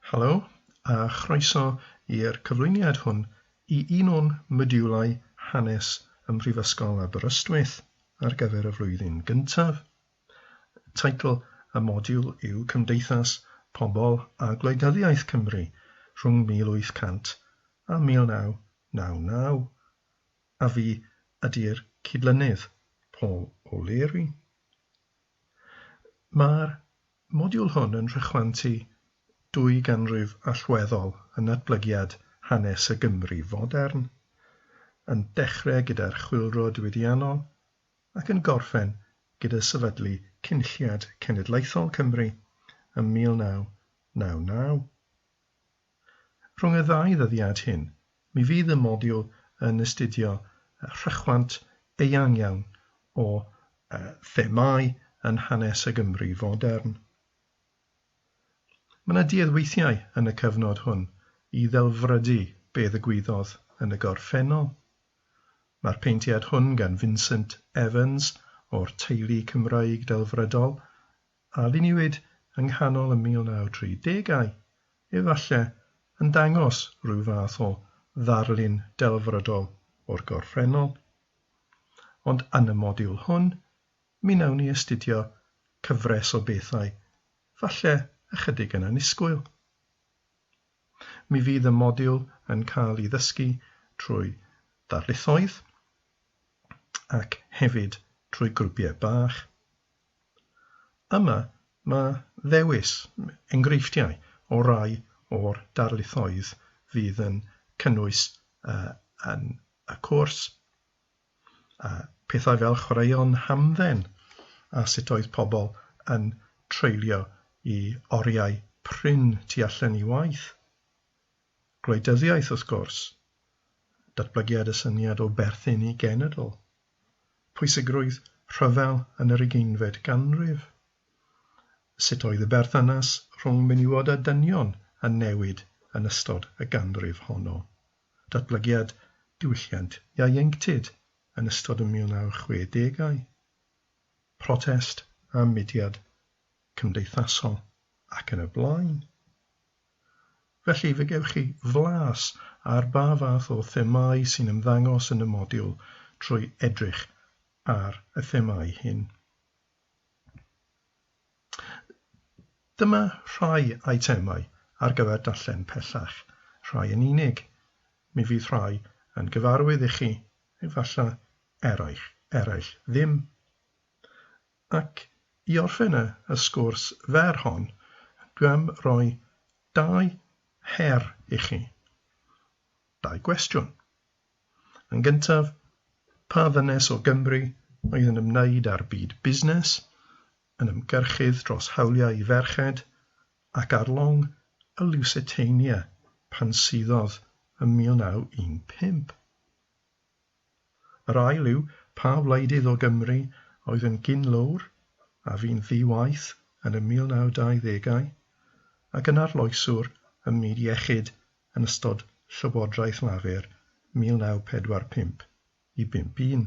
Helo, a chroeso i'r cyflwyniad hwn i un o'n modiwlau Hanes ym Mhrifysgol Aberystwyth ar gyfer y flwyddyn gyntaf. Teitl y modiwl yw Cymdeithas, Pobl a Gwleidyddiaeth Cymru rhwng 1800 a 1999, a fi ydi'r cydlynydd, Paul O'Leary. Mae'r modiwl hwn yn rhychwantu dwy ganrif allweddol yn natblygiad hanes y Gymru fodern, yn dechrau gyda'r Chwyldro Diwydiannol ac yn gorffen gyda sefydlu Cynulliad Cenedlaethol Cymru ym 1999. Rhwng y ddau ddyddiad hyn, mi fydd y modiwl yn astudio rhychwant eang iawn o themâu yn hanes y Gymru fodern. Mae yna duedd weithiau yn y cyfnod hwn i ddelfrydu be ddigwyddodd yn y gorffennol. Mae'r peintiad hwn gan Vincent Evans o'r teulu Cymraeg delfrydol a luniwyd yng nghanol y 1930au, efallai, yn dangos rhyw fath o ddarlun delfrydol o'r gorffennol. Ond yn y modiwl hwn, mi wnawn ni astudio cyfres o bethau falle ychydig yn annisgwyl. Mi fydd y modiwl yn cael ei ddysgu trwy ddarlithoedd ac hefyd trwy grwpiau bach. Yma mae ddewis enghreifftiau o rai o'r darlithoedd fydd yn cynnwys yn y cwrs, pethau fel chwaraeon hamdden a sut oedd pobl yn treulio i oriau prin tu allan i waith, gwleidyddiaeth wrth gwrs, datblygiad y syniad o berthyn i genedl. pwysigrwydd rhyfel yn yr ugeinfed ganrif? Sut oedd y berthynas rhwng menywod a dynion yn newid yn ystod y ganrif honno? Datblygiad diwylliant ieuenctid yn ystod y 1960au? Protest a mudiad cymdeithasol ac yn y blaen? Felly, fe gewch chi flas ar ba fath o themâu sy'n ymddangos yn y modiwl trwy edrych ar y themâu hyn. Dyma rhai eitemau ar gyfer darllen pellach, rhai yn unig. Mi fydd rhai yn gyfarwydd i chi, efallai eraill, eraill ddim. Ac i orffen y y sgwrs fer hon, dwi am roi dau her i chi. Dau gwestiwn. Yn gyntaf, pa ddynes o Gymru oedd yn ymwneud â'r byd busnes, yn ymgyrchydd dros hawliau i ferched, ac ar long y Lusitania pan suddodd ym 1915? Yr ail yw, pa wleidydd o Gymru oedd yn gyn-lowr a fu'n ddi-waith yn y 1920au ac yn arloeswr ym myd iechyd yn ystod Llywodraeth Lafur 1945 i 51?